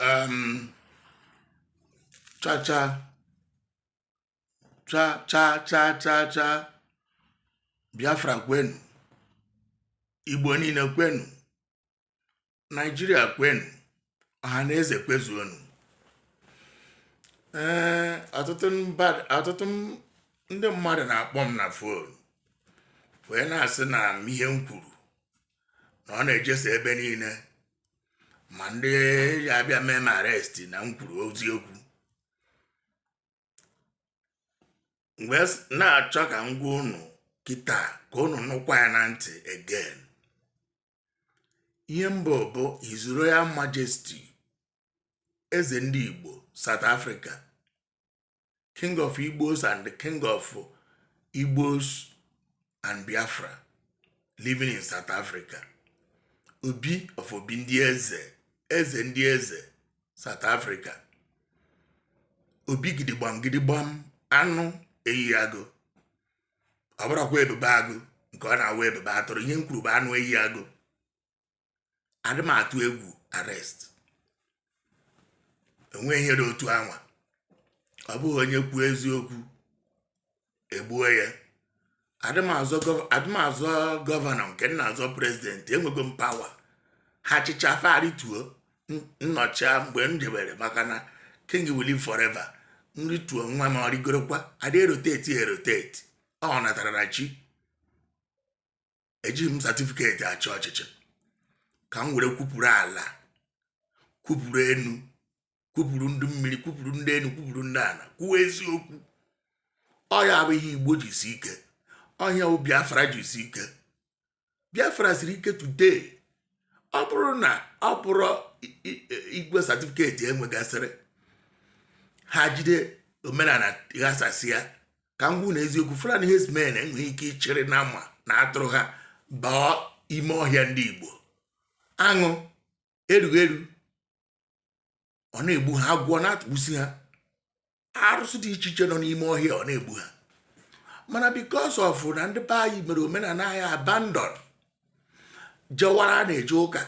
um, cha cha cha cha cha cha cha biafra kwenu igbo niile kwenu naijiria kwenu ọha na eze kwezuonu ee ọtụtụ ndị mmadụ na-akpọ m na fon wee na-asị na m ihe m kwuru na ọ na-ejesa ebe niile ma ndị ya abịa mee m arrest na m kwuru eziokwu wee s- na-achọ ka m gwa unu kịta ka unu nụkwa ya na ntị again ihe m bụ bụ His Royal Majesty eze ndị Igbo South Africa king of igbos and the king of igbos and biafra living in south africa obi of obi ndị eze eze ndị eze south africa obi gidigbam gidigbam anụ eyi agụ ọ bụrọkwa ebube agụ nke ọ na-awụ ebube atụrụ ihe m kwuru bụ anụ eyi agụ adị m atụ egwu arrest enweghị ihe dị otu anwa ọ bụghị onye kwuo eziokwu egbuo ya adị m azọ gọv- adị m azọ gọvanọ nke m na-azọ prezidenti enwego m pawa ha chịcha fa arituo m nọchia mgbe m jebere maka na king will live forever m rituo nwa m ọ rịgorokwa adị eroteti eroteti ọ natara na chi ejighị m satifiketi achị ọchịchị ka m were kwupụrụ ala kwupụrụ enu kwupụrụ ndị mmiri kwupụrụ ndị enu kwupụrụ ndị ala kwuo eziokwu ọ ya bụ ihe igbo ji si ike ọ ya bụ biafra ji si ike biafra siri ike today ọ bụrụ na ọ bụrọ igwe satifiketi e nwegasịrị ha jide omenala ghasasị ya ka m gwa unu eziokwu Fulani herdsmen enweghị ike ịchịrị nama na atụrụ ha baa ime ọhịa ndị Igbo aṅụ erughị eru ọ na-egbu ha agwọ na-atụgbusi ha arụsị dị iche iche nọ n'ime ọhịa ọ na-egbu ha mana because of na ndị be anyị mere omenala anyị abandon jewara na-eje ụka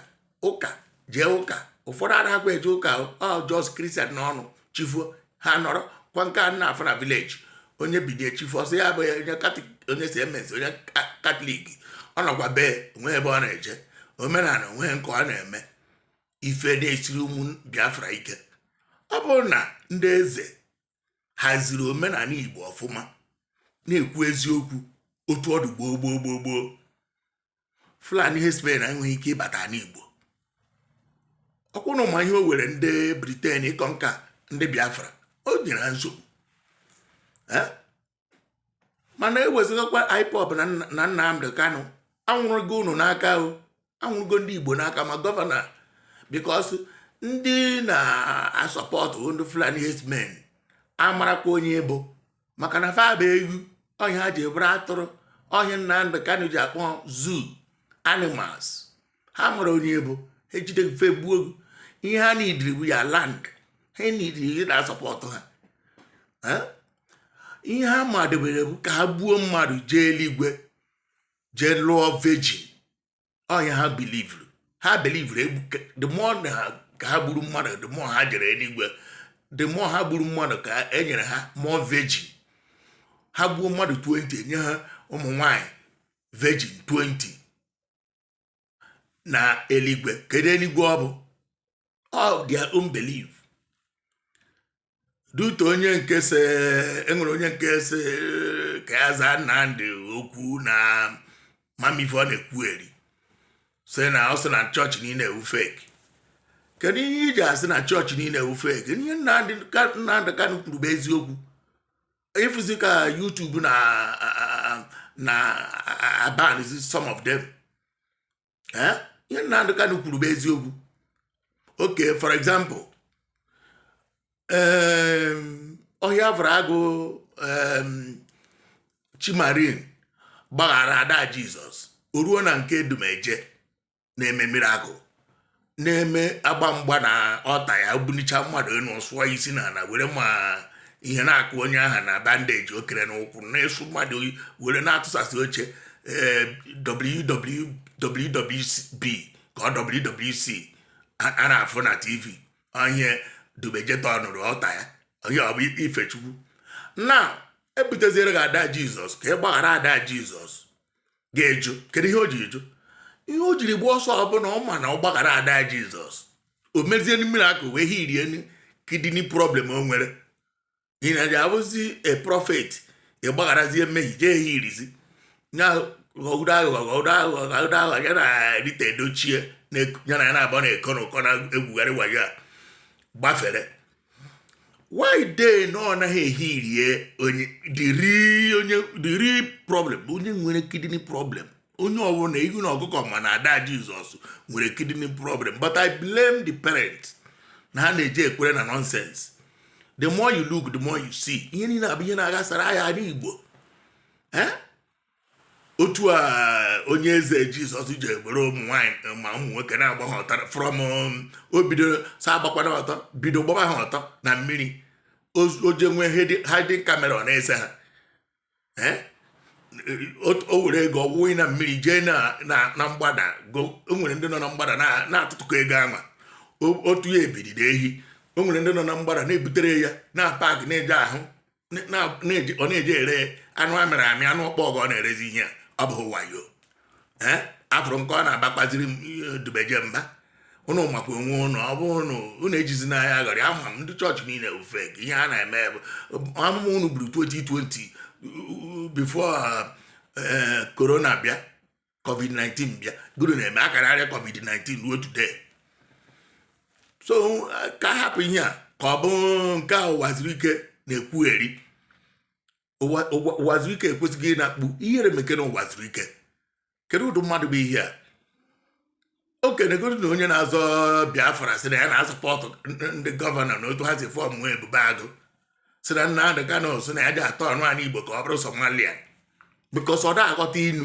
ụka jee ụka ụfọdụ anaghịkwa eje ụka ọ just kristian n'ọnụ chi foo ha nọrọ kwa nke a na-afụ na vileji onye bilie chi foo sị ya bụ onye CMS onye katọlik ọ nọkwa bee o nwe ebe ọ na-eje omenala o nwe nke ọ na-eme ife na-esiri ụmụ biafra ike ọ bụrụ na ndị eze haziri omenala igbo ọfụma na-ekwu eziokwu otu ọ dụ gboo gboo gboo gboo fulani herdsmen enweghị ike ịbata ani igbo ọ kwa unu ma ihe o were ndị britain ịconquer ndị biafra o nyere ha nsogbu mana ewezụgakwa IPOB na Nnamdi Kanu anwụrụgo unu n'aka o anwụrụgo ndị Igbo n'aka ma gọvanọ because ndị na-asọpọtụ ndị Fulani herdsmen amarakwa onye bụ maka na fa bụ ewu ọ ihe ha ji bụrụ atụrụ ọ ihe Nnamdi Kanu ji akpọ zoo animals ha mara onye bụ ha jide ị fa egbuo gị ihe ha nidiri bụ your land ha nidiri gị na-asọpọtụ ha ihe ha madebere bụ ka ha gbuo mmadụ jee eluigwe jee lụọ virgin ọ ihe ha bilivuru ha bilivuru the more ha gburu mmadụ the more ha jere eluigwe the more ha gburu mmadụ ka e nyere ha more virgin ha gbuo mmadụ 20 e nye ha ụmụ nwanyị virgin 20 na eluigwe kedu eluigwe ọ bụ all their own belief dute onye nke sị e nwere onye nke sị ka ya zaa Nnamdi okwu na ama m ife ọ na-ekwugheri sị na ọ sị na chọọchị niile wụ fake kedu ihe i ji asị na chọọchị niile wụ fake ihe Nnamdi Kanu kwuru bụ eziokwu ị fụzi ka YouTube na-abanzi some of them eh? ihe Nnamdi Kanu kwuru bụ eziokwu okay for example ọhịa fụrụ agụ Chi Marine gbaghara ada Jizọs o ruo na nke Odumeje na-eme mirakụl na-eme agba mgba na altar ya bunicha mmadụ enu sụọ isi n'ana were ma ihe na-akụ onye aha na bandeji o kere n'ụkwụ na-esu mmadụ were na-atụsasị oche eh, WWB ka ọ WWC a na-afụ na tv ọ ihe odumeje tọnụrụ altar ya ihe ọ bụ ife chukwu na e buteziere gị ada jizọs ka ị gbaghara ada jizọs gị ajụ kedu ihe o jiri jụ ihe o jiri gbaa ọsọ ọ bụ na ọ ma na ọ gbaghara ada jizọs o mezie mirakụl healie kidney problem o nwere na ị bụzi a prophet ị gbagharazie mmehie jee healizie ya ghọgide aghụghọ ghọgide aghụghọ ghọgide aghụghọ ya na rita edochie ya na ya naabọ na-eko na ụkọ na-egwugharị wayo a gbafere why dey na ọ naghị ehirie onye the real problem onye nwere kidney problem onye ọbụla ihu na ọkụkọ ma na ada jizọs nwere kidney problem but i blame the parents na ha na-eji ekwere na nonsense the more you look the more you see ihe niile a bụ ihe na-aghasara anyị ala igbo eh? otu a onye eze jizọs ji eburu ụmụ nwaanyị eh, ma ụmụ nwoke na-agba ha ọtọ from um, o bido sị agbakwana ọtọ bido gbaba ha ọtọ na mmiri o je nwee hiding camera ọ na-ese ha eh? o were ego ọ wụnye na mmiri jee na mgbada o nwere ndị nọ na mgbada na-atụtụkọ ego ahụ otu ya ebidide ehi o nwere ndị nọ na mgbada na-ebutere ya na park na-eje ahụ ọ na-eji ere anụ amịrị amị anụ ọkpọ ọgọ ọ na-erezi ihe ọ bụghị wayo eh? a fụrụ nke ọ na-abakwaziri odumeje mba ụnụ makwa onwe ụnụ ọ bụ ụnụ ụnụ ejizi n'ahịa aghọrị ama m ndị chọọchị niile ofe ka ihe a na-eme bụ amụma ụnụ buru 2020 before corona eh, bịa covid-19 bịa gịnị na-eme a ka na-arịa covid-19 ruo today so ka a hapụ ihe a ka ọ bụ nke a ụwazuruike na-ekwugheri ụwazuruike e kwesịghị ịna-akpọ ihere mekene ụwazuruike kedu ụdị mmadụ bụ ihe a okenegoro na onye na-azọ biafra sị na ya na-asọpọtụ ndị gọvanọ na otu ha si fọọmụ ebube agụ sị na nnamdị kanụ sị na ya je atọọnụ anị igbo ka ọ bụrụ somalia because ọ da-aghọta inu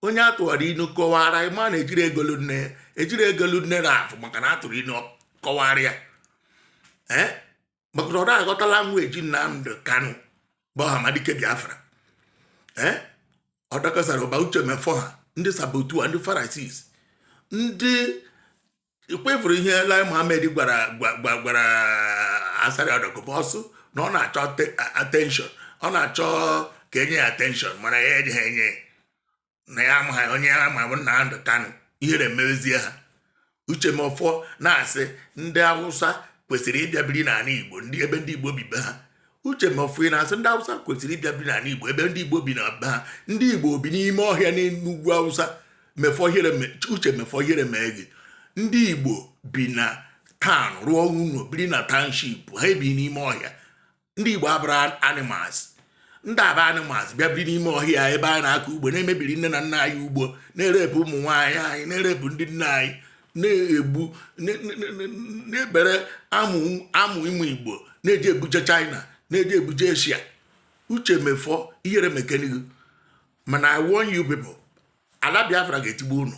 onye a tụara inu kọwara ma na e jiri ego lụ nne e jiri ego lụ nne n'efu maka na a tụrụ inu kọwara ya ee eh? maka na ọ da-aghọta language Nnamdị Kanụ bụ Ọhamadike Biafra ee ọ dị ka Asari ma Uche Mefor ha ndị saboteur ndị Pharisees ndị ọkwa ị fụrụ ihe Lai Mohammed gwara Asari Dokubo ọ sị na ọ na-achọ attention ọ na-achọ ka e nye ya attention mana ya ejeha enye na ya amaha onye ya ma bụ nnamdị kanụ ihere mezie ha uche mefor na-asị ndị awụsa kwesịrị ịbịa biri n'ala igbo ebe ndị igbo bi be ha uche mefor na-asị ndị awụsa kwesịrị ịbịa biri n'ala igbo ebe ndị igbo bi na be ha ndị igbo bi n'ime ọhịa n'ugwu awụsa mefor ihere uche mefor ihere mee gị ndị igbo bi na town rụọ ụlọ biri na township ha ebi n'ime ọhịa ndị igbo abụrọ animals ndị a bụ animals bịa biri n'ime ọhịa ebe anyị na-akọ ugbo na-emebiri nne na nna anyị ugbo na-erepụ ụmụ nwaanyị anyị na-erepụ ndị nna anyị na-egbu na-ebere amụ ụmụ igbo na-eji ebuje china na-eji ebuje asia uche mefor ihere mekene gị mana i warn you people ala biafra ga-etigbu unu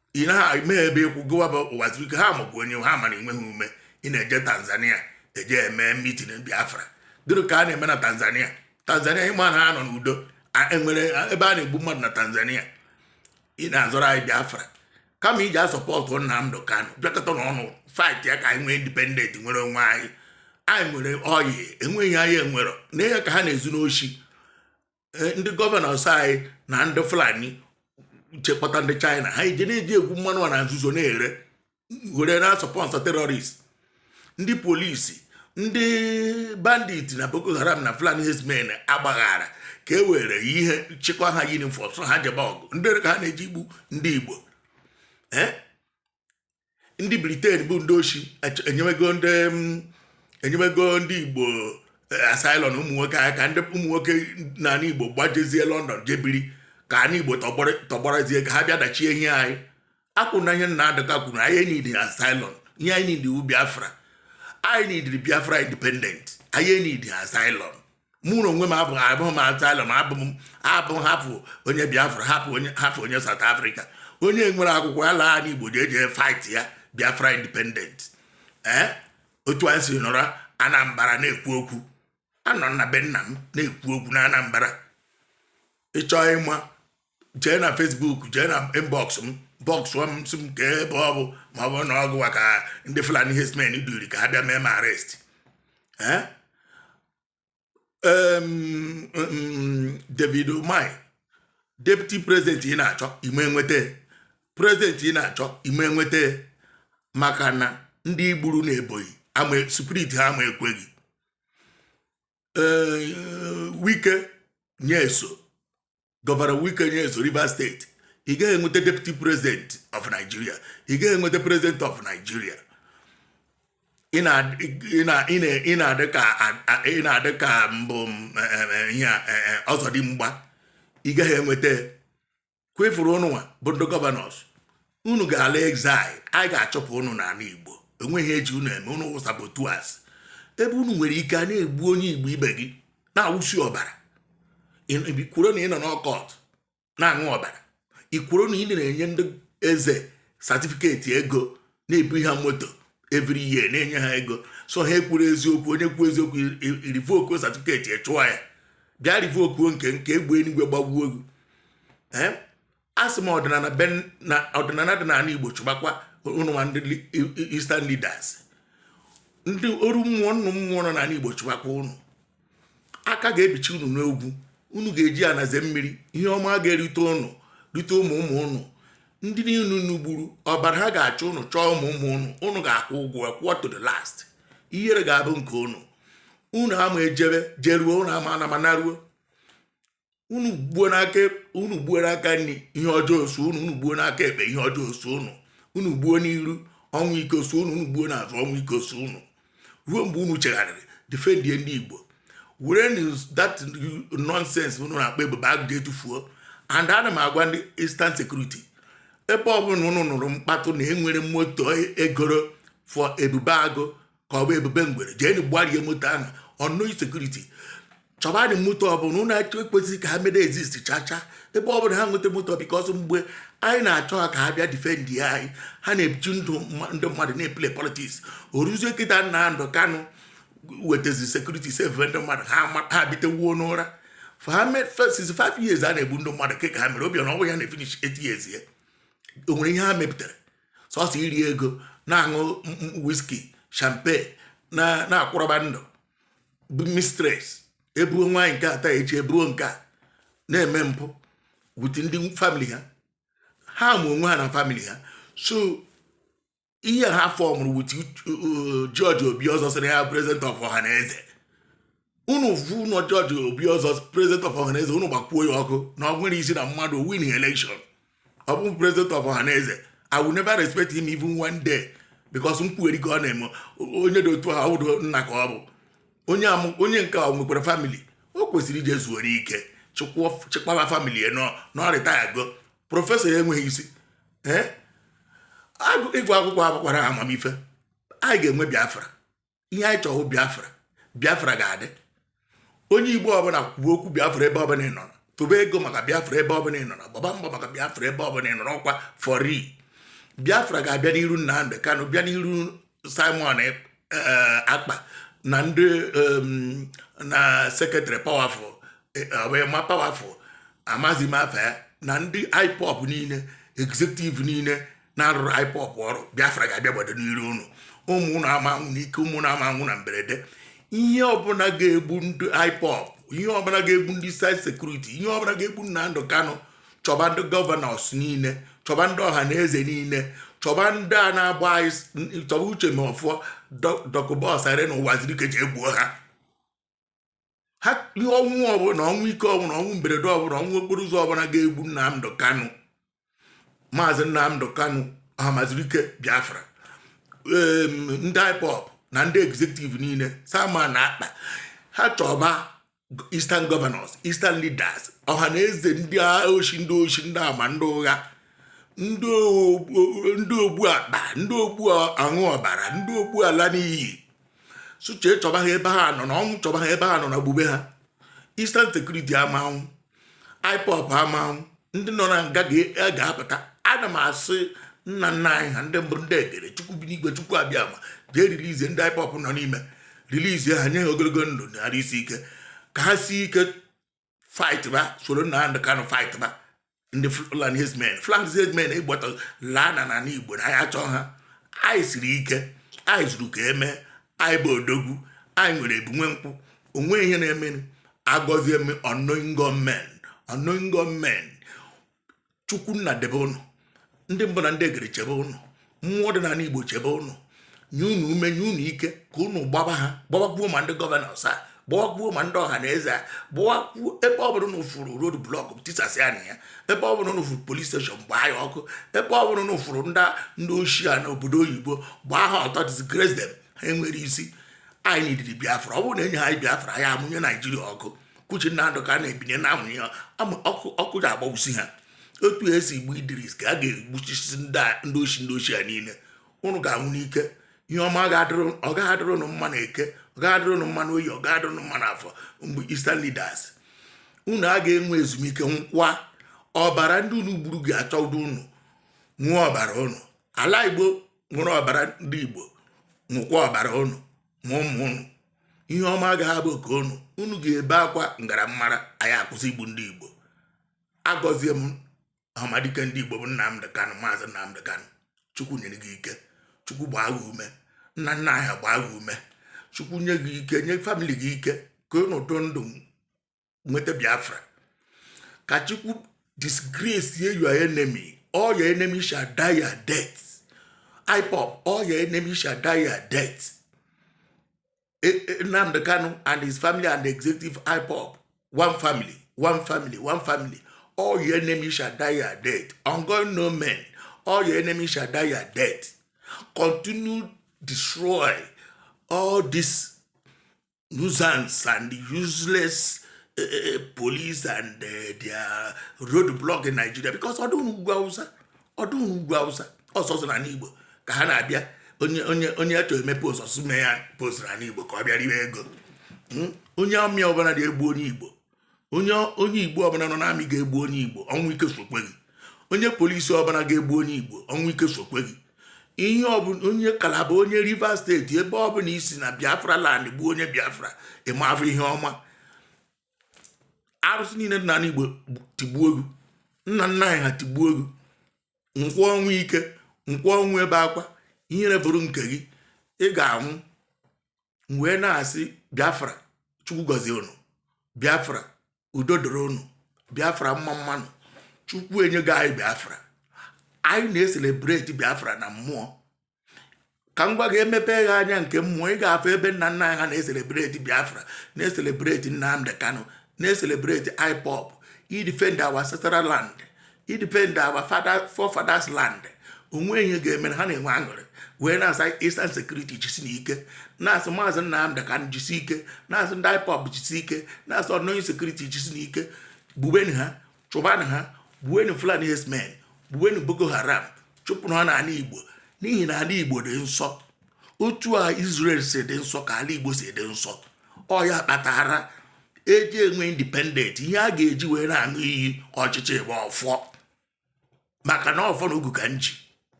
ị na ha mee ebe ị kwụ gụwa bụ uwazuruike ha makwa onye ha mara enweghị ume ị na-eje tanzania eje eme mitin biafra gịnị ka a na-eme na tanzania tanzania ị ma na ha nọ n'udo enwere ebe a na-egbu mmadụ na tanzania ị na-azọrọ anyị biafra kama ije sọpọtụ nnamdi kanu bịakọta n'ọnụ fight ya ka anyị nwee independent nwere onwe anyị anyị nwere ọyịl enweghị ihe anyị enwerọ na ihe ka ha na-ezu n'oshi eh, ndị gọvanọs anyị na ndị fulani jee kpọta ndị china ha eje na-eje egwu mmanụ a na nzuzo na-ere were na-asọpọnsọ terọrist ndị polisi ndị bandit na boko haram na fulani herdsmen agbaghara ka e were ihe chịkwa ha yunifọm so ha jebe ọgụ ndị ka ha na-eji egbu ndị igbo eh? ndị briten bụ ndị oshi enyewego ndị mm, enyewego ndị igbo eh, asylum ụmụ nwoke aka ka ndị ụmụ nwoke n'ala igbo gbajezie lọndọn jee biri ka ana igbo tọgbọrọzie ka ha bịa dachie ihe anyị akwụ na ihe nnamdi kanu kwuru anyị enidi asylum ihe anyị nidi wụ biafra anyị nidiri biafra independent anyị enidi asylum mụ na onwe m abụghị abụghị m asylum abụ m abụ half onye biafra half onye half onye saut afrịka onye nwere akwụkwọ ya laa n'igbo je eje fight ya biafra independent ee eh? otu anyị si nọrọ anambra na-ekwu okwu anọ m na be nna m na-ekwu okwu na anambra ị chọọ ịma jee na Facebook jee na inbox m bọksụ m sị m kee ebe ọ bụ ma ọ bụrụ na ọ gụwa ka ndị Fulani herdsmen duri ka ha bịa mee m arrest eh? David Umahi deputy president ị na-achọ ị ma nweta president ị na-achọ ị ma nweta maka na ndị i gburu na Ebonyi ama spirit ha ama ekwe gị ee eh, Wike Nyesom gọvanọ wike nyesom rivers steeti ị gaghị enweta deputy president of nigeria ị gaghị enweta president of nigeria ị na-adị ka ị na-adị ka mbụ ihe ọzọdimgba ị gaghị enweta kwefuru unu nwa bụ ndị gọvanọs unu ga-ala exile anyị ga-achụpụ unu n'ala igbo o nweghị ihe e ji unu eme unu wụ sabotuas ebe unu nwere ike a na-egbu onye igbo ibe gị na-awụsi ọbara i kwuru na ị nọ n'ọkọt na-aṅụ ọbara i kwuru na ị na-enye ndị eze satifiketi ego na-ebu ha moto every year na-enye ha ego so ha ekwuru eziokwu onye kwuo eziokwu i rivokuo satifiketi ị chụọ ya bịa rivokuo nke nke egbe eluigwe gbagbuo gị asị m ọdịnala be na ọdịnala dị n'ala Igbo chụbakwa ụnụ ma ndị Eastern leaders ndị oru mmụọ nnụ mmụọ nọ n'ala Igbo chụbakwa ụnụ aka ga-ebichi unu n'ogwu unu ga-eji ana eze mmiri ihe ọma ga-erite ụnụ rite ụmụ ụmụ ụnụ ndị niile unu gburu ọbara ha ga-achọ ụnụ chọọ ụmụ ụmụ ụnụ ụnụ ga-akwụ ụgwọ kwụọ to the last ihere ga-abụ nke ụnụ unu ama ejebe jeruo unu ama anama naruo unu gbuo n'aka unu gbuo n'aka nri ihe ọjọọ so unu unu gbuo n'aka ekpe ihe ọjọọ so unu unu gbuo n'iru ọnwụ ike so unu unu gbuo n'azụ ọnwụ ike so unu ruo mgbe unu chegharịrị defendie ndị igbo were that nonsense unu na-akpọ ebube agụ jee tufuo and ana m agwa ndị eastern security ebe ọbụla unu nụrụ mkpatụ na e nwere moto e goro for ebube agụ ka ọ bụ ebube ngwere jeenu gbarie moto ahụ ọnụ security chọbadị moto ọbụla ụnụ achọ ekwesịghị ka ha mede exist chacha ebe ọbụla ha nweta moto because mgbe anyị na-achọ ha ka ha bịa defendi anyị ha na-eji ndụ ndị mmadụ na-eplay politics o ruzie kịta Nnamdi Kanu wetazi security save ndị mmadụ ha bitewuo n'ụra for ha mee first five years a na-egbu ndị mmadụ ka ha mere Obiano onwe ya na-efinish eight years ya o nwere ihe ha mepụtara sọsọ iri ego na-aṅụ whisky champagne na-akpọrọba ndị mistress ebuo nwaanyị nke a taa echi ebuo nke a na-eme mpụ with ndị family ha ha ma onwe ha na family ha so ihe ha fọmụrụ with George Obiozor sịrị ha president of ọha na eze unu vu unu George Obiozor president of ọhaneze unu gbakwuo ya ọkụ na o nwerọ isi na mmadụ win election ọ bụ president of ọhaneze i will never respect him even one day because nkwugheri ka ọ na-eme onye dị otu ha ọwụdo nna ka ọ bụ onye nke o nwekwara family o kwesịrị ije zuoro ike chịkwaba family ya na ọ retire go professor ya enweghị isi ịgụ akwụkwọ abụkwara amamife anyị ga-enwe biafra ihe anyị chọrọ biafra biafra ga-adị onye igbo ọbụla kwuba okwu biafra ebe ọbụla ị nọrọ tụba ego maka biafra ebe ọbụla ị nọrọ gbaba mbọ maka biafra ebe ọbụla ị nọrọ ọkwa for real biafra ga-abịa n'iru Nnamdi Kanu bịa n'iru Simon Ekpa na ndị na secretary powerful eh, Emma Powerful amazi mafe na ndị IPOB niile executive niile na-arụrụ IPOB ọrụ Biafra ga-abịa gbado n'iru unu ụmụ unu ama anwụ n'ike ụmụ unu ama anwụ na mberede ihe ọbụla ga-egbu ndị IPOB ihe ọbụla ga-egbu ndị eastern security ihe ọbụla ga-egbu Nnamdi Kanu chọba ndị governors niile chọba ndị ọha na eze niile chọba ndị a na-agba anyị chọba Uche Mefor Dokubo Asari na Ụwazuruike jee gbuo ha ha ihe ọnwụ ọbụla ọnwụ ike ọbụla ọnwụ mberede ọbụla ọnwụ okporo ụzọ ọbụla ga-egbu Nnamdị Kanụ maazị Nnamdị Kanụ Ọhamazurike Biafra ndị IPOB na ndị executive niile Simon Ekpa ha chọba eastern governors eastern leaders ọha na eze ndị oshi ndị oshi ndị ama ndị ụgha ndị ogbu akpa ndị ogbu aṅụ ọbara ndị ogbu ala n'iyi suchee chọba ha ebe ha nọ na ọnwụ chọba ha ebe ha nọ na gbube ha Eastern Security ama anwụ IPOB ama anwụ ndị nọ na nga ga-apụta ana m asị nna nna anyị ha ndị mbụ ndị egere chukwu bi n'igwe chukwu abịama jee rilizie ndị IPOB nọ n'ime rilizie ha nye ha ogologo ndụ na arụ isi ike ka ha si ike fight ba soro Nnamdị Kanụ fight ba ndị Fulani herdsmen Fulani herdsmen ịgbata laa na n'ala Igbo na anyị achọọ ha anyị siri ike anyị zuru ka eme anyị bụ odogwu anyị nwere ebunwe nkwụ o nwe ihe na-eme agọzie m unknown gunmen unknown gunmen chukwu nna debe ụnụ ndị mbụ na ndị egere chebe ụnụ mmụọ dị n'ala igbo chebe ụnụ nye unu ume nye unu ike ka unu gbaba ha gbabakwuo ma ndị governors a gbawakwuo ma ndị ọha na eze a gbawakwuo ebe ọ bụla unu furu road block tisasịanụ ya ebe ọ bụla unu furu police station gbaa ya ọkụ ebe ọ bụla unu furu ndị ndị oshi a n'obodo oyibo gbaa ha ọtọ disgrace them ha enwere isi anyị nidiri biafra ọ bụrụ na enye ha biafra ya amụnye naijiria ọkụ kwuchi Nnamdị Kanụ ebinie na amụnye ọkụ ji agbagbusi ha otu esi igbu idris ka a ga-egbuchisi ndị oshi ndị oshi niile ụnụ ga-anwụ n'ike ihe ọma ọ gaghị adịrị ụnụ mma na eke ọ gaghị adịrị ụnụ mma na oye ọ gaghị adịrị ụnụ mma na afọ mgbe eastern leaders unu aga enwe ezumike nkwa ọbara ndị unu gburu ga-achọ ụdị unu ṅụọ ọbara ụnụ ala igbo ṅụrụ ọbara ndị igbo ṅụkwa ọbara ụnụ ma ụmụ ụnụ ihe ọma agaghị abụ ka ụnụ unu ga-ebe akwa m gara mara anyị akwụsị igbu ndị igbo agọzie m Ọhamadike ndị igbo bụ nnamdị kanụ maazị nnamdị kanụ chukwu nyere gị ike chukwu gbaa gị ume nna nna anyị gbaa gị ume chukwu nye gị ike nye family gị ike ka ụnụ dụ ndụ nweta biafra ka chukwu disgrace ye your enemy all your enemy shall die your death ipop all your enemy shall die your death e, e, nnamdị kanu and his family and the executive ipop one family one family one family all your enemy shall die your death ongoing no men all your enemy shall die your death continue destroy all this nuisance and useless uh, uh, police and uh, their road block in Nigeria because ọ dịghị n'ugwu awụsa ọ dịghị n'ugwu awụsa ọ sọsọ n'ana Igbo ka ha na-abịa onye onye onye achọ emepe ọsọsọ mee ya post n'ana Igbo ka ọ bịa riwe ego hmm? onye army ọbụla na-egbu onye Igbo onye onye igbo ọbụla nọ n'amị ga-egbu onye igbo ọnwụ ike sokwe gị onye polisi ọbụla ga-egbu onye igbo ọnwụ ike sokwe gị ihe ọbụla onye kalaba onye rivers steeti ebe ọbụla i si na biafra land gbuo onye biafra ị ma afụ ihe ọma arụsị niile dị n'ala igbo tigbuo gị nna nna anyị ha tigbuo gị nkwụ ọnwụ ike nkwụ ọnwụ ebe akwa ihere bụrụ nke gị ị ga-anwụ m wee na-asị biafra chukwu gọzie unu biafra udo dịrị unu biafra mma mma nụ chukwu enyego anyị biafra anyị na-eselebreti biafra na mmụọ ka m gwa gị e mepe gị anya nke mmụọ ị ga-afụ ebe nna nna anyị ha na-eselebreti biafra na-eselebreti nnamdi kanu na-eselebreti ipop idefend our ancestral land idefend our father forefathers land o nwe ihe ga-eme ha na-enwe aṅụrị wee na-asị Eastern Security jisinụ ike na-asị maazị Nnamdi Kanu jisi ike na-asị ndị IPOB jisi ike na-asị unknown sekuriti jisinụ ike gbuweni ha chụbanụ ha gbuweni Fulani herdsmen gbuweni Boko Haram chụpụnụ ha n'ala Igbo n'ihi na ala Igbo dị nsọ otu a Israel si dị nsọ ka ala Igbo si dị nsọ ọ ya kpatara e ji enwe independent ihe a ga-eji wee na-aṅụ iyi ọchịchị bụ ọfọ maka na ọfọ na ogu ka m ji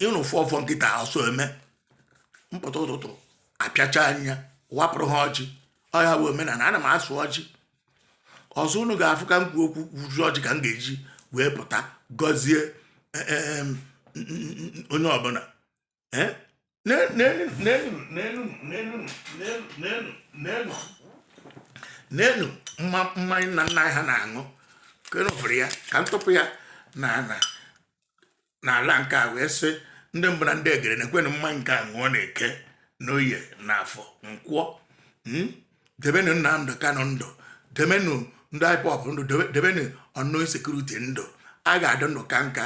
ịnụ ụfọ ọfọ nkịta ọsọ eme m pụta ụtụtụ apịacha anya wapụrụ ha ọjị ọ ya bụ omenala ana m asụ ọjị ọzọ unu ga-afụ ka m kwuo okwu kwuju ọjị ka m ga-eji wee pụta gọzie e, e, e, onye ọbụla eh? neenụ mmanya nna nna ha na-aṅụ kenụfụrụ ya ka m tụpụ ya na na n'ala nke a wee sị ndị mbụ na ndị egede nekwenụ mmanya nke a ṅụọ n'eke n'oye na afọ nkwọ hmm? debenụ Nnamdi Kanu ndụ debenụ ndị IPOB ndụ debenụ unknown sekuriti ndụ a ga-adị ndụ kaa nka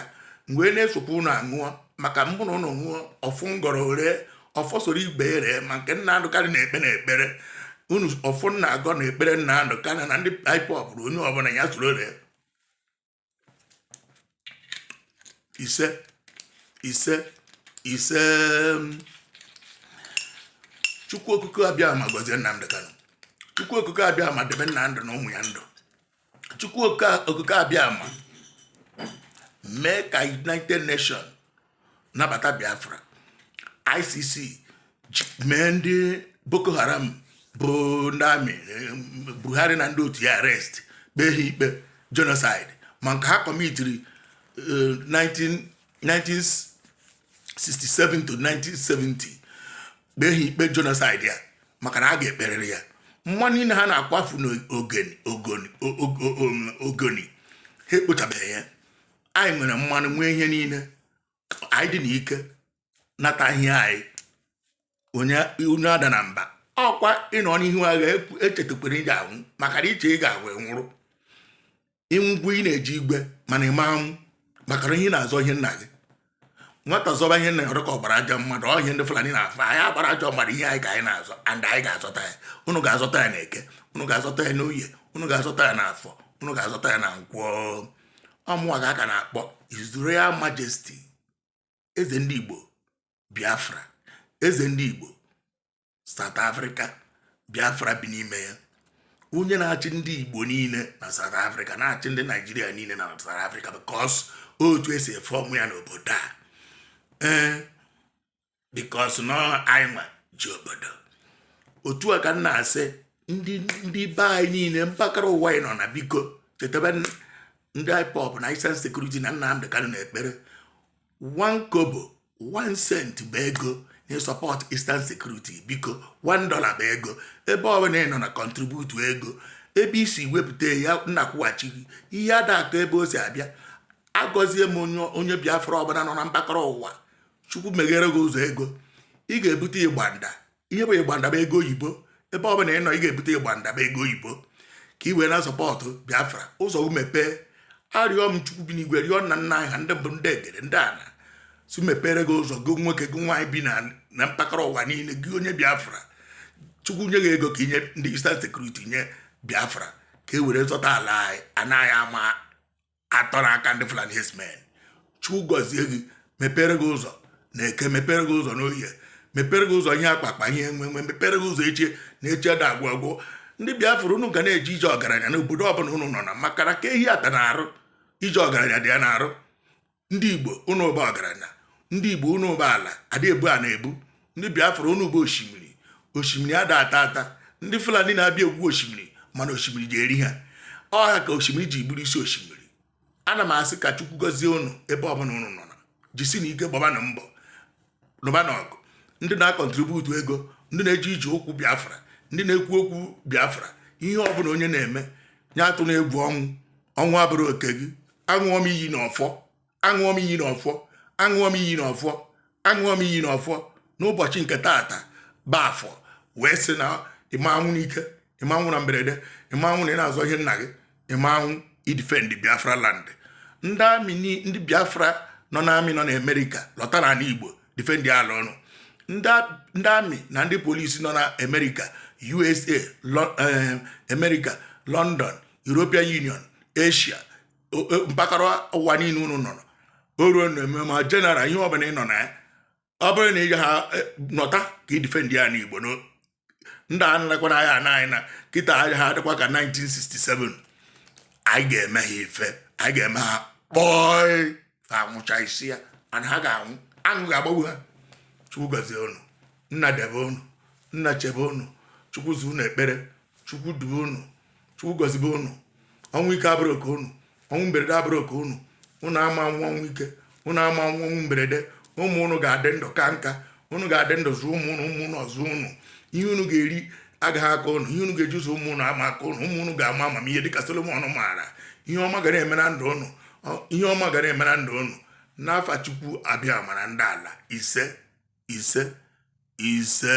wee na-esokwa ụnụ aṅụọ maka mbụ na ụnụ ṅụọ ọfọ m gọrọ o ree ọfọ soro ibe ere ma nke Nnamdi Kanu na-ekpe na ekpere unu ọfọ m na-agọ na ekpere Nnamdi Kanu na ndị IPOB bụ onye ọbụla ya soro ree ise ise ise chukwu okike abịama gọzie Nnamdi Kanu chukwu okike abịama debe Nnamdi na ụmụ ya ndụ chukwu okike abịama mee ka United Nations nabata biafra icc mee ndị boko haram bụ ndị amị buhari na ndị otu ya arrest kpee ha ikpe genocide ma nke ha kọmitiri 1967 eh, to 1970 kpee ha ikpe genocide ya maka na a ga-ekperịrị ya mmanụ niile ha na-akwafu n'ogoni ha ekpochabeghị ya anyị nwere mmanụ nwee ihe niile anyị dị n'ike nata ihe anyị onye adana mba ọ kwa ị nọ n'ihu agha echetakwana ị ga-anwụ maka na i che ị ga-agwa nwụrụ ị nwụgwu ị na-eje igwe mana ị ma anwụ maka na ihe na-azọ ihe nna gị nwata zọba ihe nna ya ọ dị ka ọ gbara ajọ mmadụ ọ ihe ndị Fulani na-afụ anyị agbara ajọ mmadụ ihe anyị ka anyị na-azọ and anyị ga-azọta ya unu ga-azọta ya na eke unu ga-azọta ya n'oye unu ga-azọta ya n'afọ unu ga-azọta ya na nkwọ ọ mụwa ka a ka na-akpọ His Royal Majesty eze ndị Igbo Biafra eze ndị Igbo South Africa Biafra bi n'ime ya onye na-achị ndị Igbo niile na South Africa na-achị ndị Naijiria niile na South Africa because otu e si efe ọmụ ya n'obodo a ee because na anyị nwa ji obodo otu a ka m na-asị ndị be anyị niile mpaghara ụwa anyị nọ na biko chetebe ndị IPOB na Eastern Security na Nnamdị Kanu n'ekpere one kobo one cent bụ ego na-support Eastern Security biko one dollar bụ ego ebe ọbụla ị nọ na-akọntributu ego ebe i si wepụta ya nna kwụghachi ihe ada akọ ebe o si abịa agọzie m onye biafra ọbụla nọ na mpaghara ụwa chukwu meghere gị ụzọ ego ị ga-ebute ịgbanda ihe bụ ịgbanda bụ ego oyibo ebe ọ bụla ị nọ ị ga-ebute ịgbanda bụ ego oyibo ka ị wee na-asọpọtụ biafra ụzọ mepee arịọ m chukwu bi n'igwe rịọ nna nna anyị ha ndị mbụ ndị egede ndị ana sị mepere gị ụzọ gị nwoke gị nwaanyị bi na mpaghara ụwa niile gị onye biafra chukwu nye gị ego ka i nye ndị Eastern Security nye biafra ka e were zọta ala anyị anaghị ama atọ n'aka ndị Fulani herdsmen Chukwu gọzie gị mepere gị ụzọ na eke mepere gị ụzọ n'oye mepere gị ụzọ ihe akpa akpa ihe enwe enwe mepere gị ụzọ echi na echi ada agwụ agwụ ndị Biafra unu ga na-eje ije ọgaranya n'obodo ọbụla unu nọ na maka na ka ehi atana arụ ije ọgaranya dị ya n'arụ ndị Igbo unu bụ ọgaranya ndị Igbo unu bụ ala ada ebu ana ebu ndị biafra unu bụ osimiri osimiri ada ata ata ndị fulani na-abịa igwu osimiri mana osimiri je-eri ha ọ ha ka osimiri je-eburu isi osimiri ana m asị ka chukwu gọzie unu ebe ọbụla unu nọ na jisinụ ike gbabanụ mbọ lụbanụ ọgụ ndị na-akọntributu ego ndị na-eje ije okwu biafra ndị na-ekwu okwu biafra ihe ọbụla onye na-eme onye atụna egwu ọnwụ ọnwụ abụrọ oke gị aṅụọ m iyi na ọfọ aṅụọ m iyi n'ọfọ aṅụọ m iyi n'ọfọ aṅụọ m iyi n'ọfọ n'ụbọchị nke taata bụ afọ wee sị na ị ma nwụ n'ike ị ma nwụ na mberede ị ma nwụ na ị na-azọ ihe nna gị ị ma nwụ i defend biafra land ndị army ndị biafra nọ n'army nọ n'amerika lọta n'ala igbo defend ala unu ndị army na ndị polisi nọ na amerịka usa eh, amerịka london european union asia mpaghara ụwa niile unu nọ o ruo na eme ma general ihe ọbụla ị nọ na ya ọ bụrụ na ị ha e, nọta ka i defend anị igbo ndị a narakwana agha na anyị na kịta agha ha dịkwa ka 1967 anyị ga-eme ha ife anyị ga-eme ha kpọị ka anwụcha isi ya ana ha ga-anwụ aṅụ ga-agbagbu ha chukwu gọzie unu nna debe unu nna chebe unu chukwu za unu ekpere chukwu dube unu chukwu gọzibe unu ọnwụ ike abụrụ oke unu ọnwụ mberede abụrụ oke unu unu ama anwụ ọnwụ ike unu ama anwụ ọnwụ mberede ụmụ unu ga-adị ndụ kaa nka unu ga-adị ndụ zụọ ụmụ unu ụmụ unu azụọ unu ihe unu ga-eri agaghị akọ unu ihe unu ga-eji zụọ ụmụ unu ama akọ unu ụmụ unu ga-ama amamihe dịka Solomon maara ihe ọma ga na-eme na ndụ unu ihe ọma ga na-eme na ndụ unu n'afa Chukwu Abịama na ndị ala ise ise ise